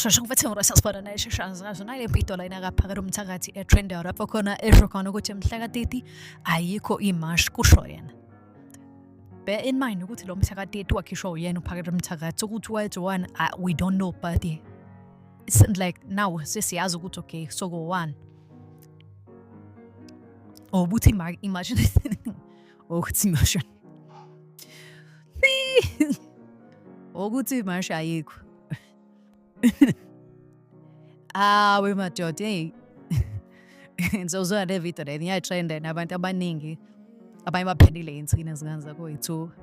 sheshe ngifethe ngirasa sibona naye sheshe azikazi nale mpito la inakaphakela umthakathi etrender lapho khona esho khona ukuthi mhla ka-30 ayikho imash kusho yena bear in mind ukuthi lo mthakathi wakhishwa uyena uphakela umthakathi ukuthi wayethiwani we don't know but like now sesiyazi ukuthi okay so go one or ukuthi imagine or ukuthi imagine ukuthi imashi ayikho ah we madoda hey ngizozwa le video le ngiyatrenda abantu abaningi abanye baphendile insini ezingane zakho yithuka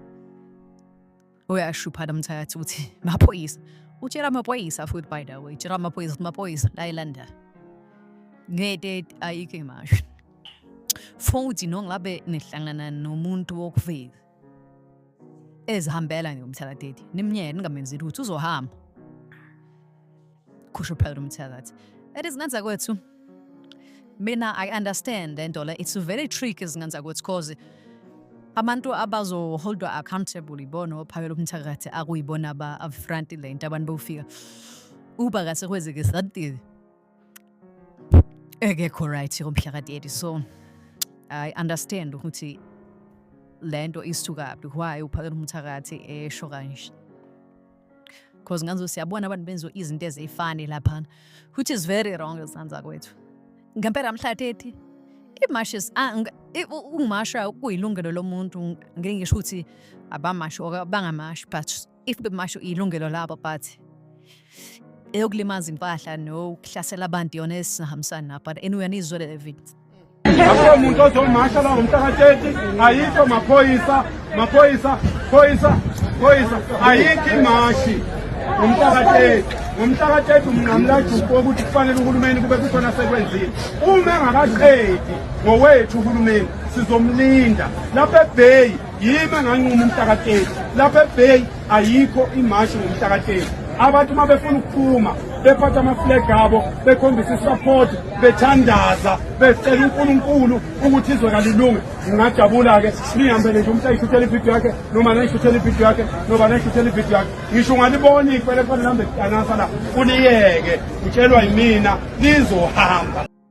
uyashupha nomthakathi ukuthi maphoyisa utshela amaphoyisa futhi by the way tshela amaphoyisa ukuthi maphoyisa la elanda ngete ayikho imasho futhi nongabe nihlangana nomuntu wokuveza ezihambela ngomthakathi nimnyeke ningamenzi lutho uzohamba kusho phela umthakathi that is nganza kwethu mina i understand le nto le it's very tricky zinganza kwethu cause abantu abazoholdwa accountable ibona ophakela umthakathi akuyibona aba-upfront le nto abantu bawufika uba kase kwenzeke sadile ekekho right ngomhla ka-30 so i understand ukuthi le nto isukaphi why uphakela umthakathi esho kanje because nganzo siyabona abantu benziwa izinto eziyifani laphana which is very wrong ezanza kwethu ngempela mhlatethi imashes ah, ungumasha kuyilungelo lomuntu ngeke ngisho ukuthi abamashi or bangamashi but if bemasho ilungelo labo but eyokulimaza impahla nokuhlasela abantu yona esingahambisani nabo but anyway anizwele le video akukho muntu ozomasha la ngomhlaka 30 ayikho maphoyisa maphoyisa phoyisa phoyisa ayikho imashi ngomhlaka 30 ngomhlaka 30 umnqamulajuku wokuthi kufanele uhulumeni kube kukhona sekwenzile uma engakaqedi ngowethu uhulumeni sizomlinda lapha ebheyi yimi enganquma umhlakateli lapha ebay ayikho imashi ngomhlakateli abantu uma befuna ukuphuma bephatha amaflag abo bekhombisa isupport bethandaza becela unkulunkulu ukuthi izwe kalilunge ngingajabula-ke nihambele nje umuntu ayishuthela ividiyo yakhe noma nayishuthela ividiyo yakhe noma nayishuthela ividiyo yakhe ngisho ungaliboni ikwele kufanele hambe kudanasa la kuliyeke utshelwa yimina lizohamba